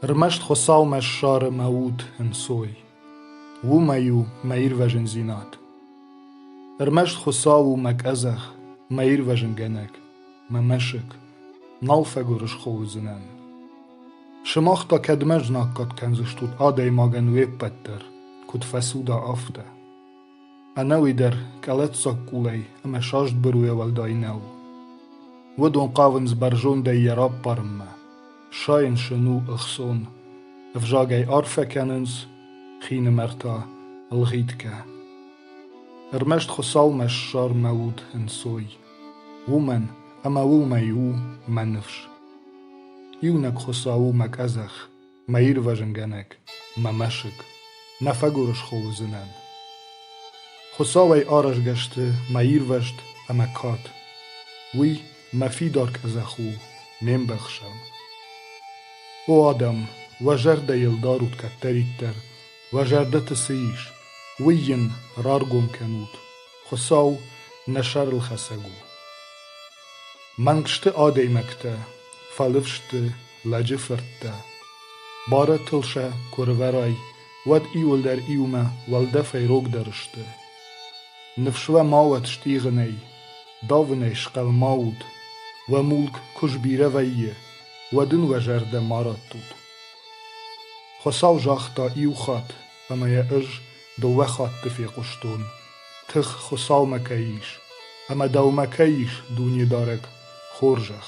Ӕрмӕст Хуыцаумӕ ссары мӕ уд ӕнцой. Уымӕй у мӕ ирвӕзындзинад. Ӕрмӕст Хуыцау у мӕ къӕдзӕх, мӕ ирвӕзынгӕнӕг, мӕ мӕсыг. Нал фӕгуырысхо уыдзынӕн. Сымах та кӕдмӕ знаггад кӕндзыстут адӕймагӕн уе ппӕт дӕр, куыд фӕцуда, афтӕ. Ӕнӕуи дӕр къӕлӕтдзаг къулӕй ӕмӕ саст быруйӕ уӕлдай нӕу. Уыдон хъавынц бӕрзондӕй йӕ раппарынмӕ, сайынсын у ӕхцон, ӕвзагӕй арфӕ кӕнынц, хинымӕртӕ, ӕлгъитгӕ. Ӕрмӕст Хуыцаумӕ ссармӕ уд ӕнцой, уымӕн ӕмӕ уымӕй у мӕ ныфс. Иунӕг Хуыцау у мӕ къӕдзӕх, Мӕ ирвӕзынгӕнӕг, мӕ мӕсыг, Нӕ фӕгуырысхо уыдзынӕн. Хуыцауӕй аразгӕ сты мӕ ирвӕзт ӕмӕ кад, Уый мӕ фидар къӕдзӕх у, ме мбӕхсӕн. О адӕм, уӕ зӕрдӕйыл дарут кӕддӕриддӕр, Уӕ зӕрдӕты цы ис, уый йын раргом кӕнут, Хуыцау нӕ сӕрылхӕцӕг у. Мӕнгсты адӕймӕгтӕ фӕлыв сты лӕджы фырттӕ. Барӕтыл сӕ куы рывӕрай, уӕд иуылдӕр иумӕ уӕлдӕфӕй рогдӕр сты. Ныфс уӕ ма уӕд стигъынӕй, давынӕй схъӕлмӕ ут, уӕ мулк куы сбирӕ вӕййы, уӕд ын уӕ зӕрдӕ ма раттут. Хуыцау загъта иу хатт, ӕмӕ йӕ ӕз дыууӕ хатты фехъуыстон. Тых Хуыцаумӕ кӕй ис, ӕмӕ дӕумӕ кӕй ис, Дунедарӕг, хорзӕх.